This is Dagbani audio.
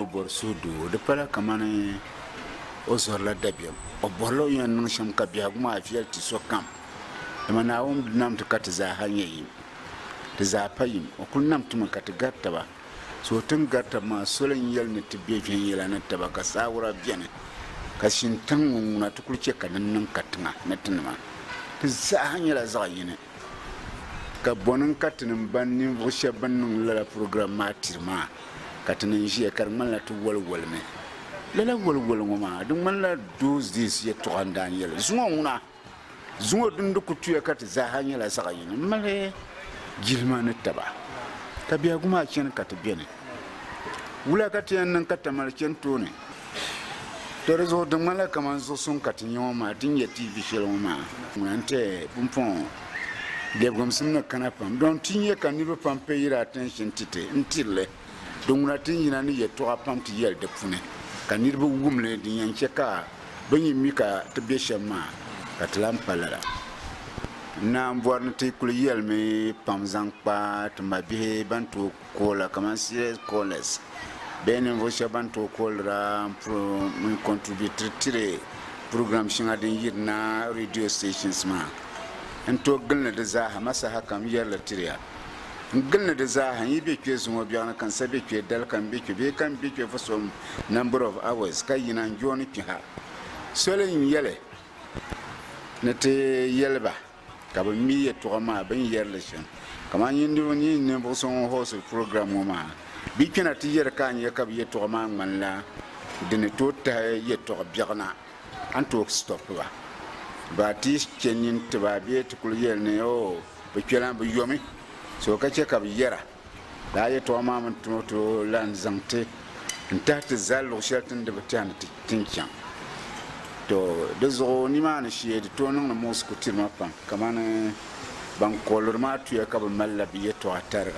o bɔri suhudoo di pala kamani o zɔrila dabiɛm o bɔrila o ni yɛn niŋ shɛm ka biɛhigu maa viɛli ti sokam dama naawuni bi nam ti ka ti zaaha nyɛ yim ti zaa pa yim o kuli nam timi ka ti gari taba So tin gari tab maa soli n-yɛli ni ti be viɛnyɛla ni taba ka saawura beni ka shintaŋ ŋɔ ŋuna ti kuli chɛ ka din niŋ katiŋa ni tinima ti zaaha nyɛla zaɣ yini. Ka bɔni n-ka ti ni m-baŋ ninvuɣ shɛb bɛn niŋ lala program maa tiri maa? Ka ti ni n-ʒiya ka di ŋmanila ti waliwalimi. Lala waliwali ŋɔ maa, di ŋmanila those days yɛtɔɣa n-daa n-yɛli zuŋɔ ŋuna. Zuŋɔ din di ku tuya ka ti zaaha nyɛla zaɣ yini m-mali jilima ni taba, ka biɛhigu maa chani ka ti beni. Wula ka ti yɛn niŋ ka Tamale chani tooni? Tɔ di zuɣu di ŋmanila kaman zuɣu suŋ ka ti nya ŋɔ maa, ti ni nya tiivi shɛli ŋɔ maa. Ŋuna n-ti pumpɔŋɔ lɛbigimsim ni kana pam dɔŋ ti nya ka niriba pam pay it attention ti ti n-tiri li. Di ŋuna ti ni yina ni yɛltɔɣa pam ti yɛli di puni ka niriba wum li din yɛn chɛ ka Bɛ ni mi ka ti be shɛm maa, ka ti lan pa lala. N naan bɔri ni ti kul yɛlimi pam zaŋ kpa ti mabihi bɛn tooi kool la kaman serious callers bee ninvuɣ shɛb bɛn tooi koolira mini contributiri tiri program shɛŋa din yirina radio stations maa. N tooi gilini di zaaha ma sahakam yɛri li tiri ya. n gili ni di zaaha n yi be kpe zuŋɔ biɛɣu ni ka n sa be kpe dali ka n be kpe bee ka n be kpe for some number of hours ka yina n jooni kpe ha soli n yɛli ni ti yɛli ba ka bɛ mi yɛtɔɣa maa bɛ ni yɛri li shɛm kamani nyin niriba nyin ninvuɣ so ŋun host program ŋɔ maa bɛ kpɛna ti yɛri ka a nya ka bɛ yɛtɔɣa maa ŋmanila di ni tooi tahi yɛtɔɣa biɛɣu na a ni tooi stop ba ba ti chɛ nyin ti ba bee ti kuli yɛli ni o Bɛ kpɛla bɛ yomi so ka chɛ ka bɛ yɛra, Daa yɛtɔɣa maa mi ti o tooi lan zaŋ ti n-tahi ti zali luɣ shɛli ti ni di bi tɛha ni ti ni chaŋ. Tɔ! Di zuɣu nimaani shee di tooi niŋdi Moose kutirima pam, kamani ban kohiri maa tuya ka bɛ malila bɛ yɛtɔɣa tariga.